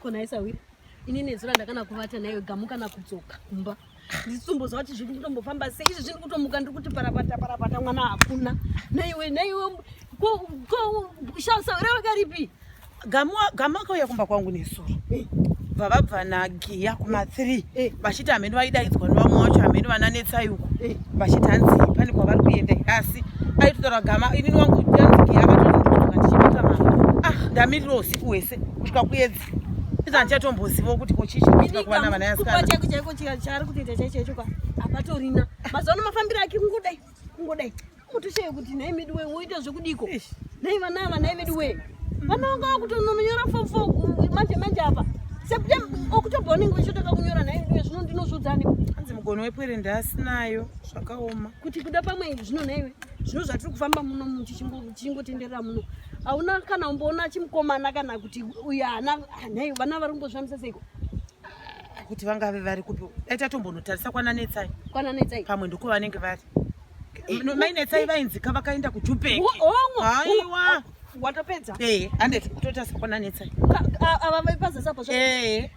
ko nhai sahwira ini nezura ndakana kuvata nayo gamuka nakudzoka kumba nditsumbo zva kuti zviri kutombofamba sei izvi zviri kutomuka ndiri kuti parapata parapata mwana hakuna naiwe naiwe sahwira vakaripi gamuka uya kumba kwangu nezuro eh vavabva nagiya kuma three eh. vachiti hameno vaidaidzwa nevamwe wacho hameno vananetsai uko eh. vachiti hanzi pane kwavari kuenda asi aitotaura gama inini wangu anzi giya vatoiaa ndichiita mama ah ndamirira usiku wese kusvika kuedza iza handichatombozivawo kuti ko chii chikuitika kuvana vana yasikana chaiko chaiko chaari kutoita chaicho icho ka hapatorina mazuva ano mafambiro ake kungodai kungodai mutoshaya kuti nhai medu wee woita zvekudiko nhai vana ava nhai vedu wee vana vanga vakutononyora fom fo manje manje apa septem okutobva unenge vechitotoka kunyora nhai vedu wee zvino ndinozvudzani anzi mugono wepwere ndaasinayo zvakaoma kuti kuda pamwe zvino nhaiwe zvino zvatiri kufamba muno muchichingo chingotenderera muno hauna kana umboona chimukomana kana kuti uyo ana nhai vana vari kumbozvamisa seiko kuti vangave vari kupi dai tatombonotarisa kwana netsai kwana netsai pamwe ndiko vanenge vari eh, mai netsai vainzika vakaenda kujupeki aiwa watopedza eh, anditi kutotarisa kwana netsai ava vaipazasapo eh.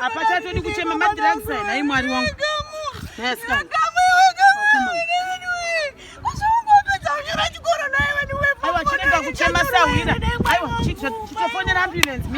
apachatodi kuchema madrugs nai mwari wangu chirega kuchema sahwira aiwa chitofonera ambulance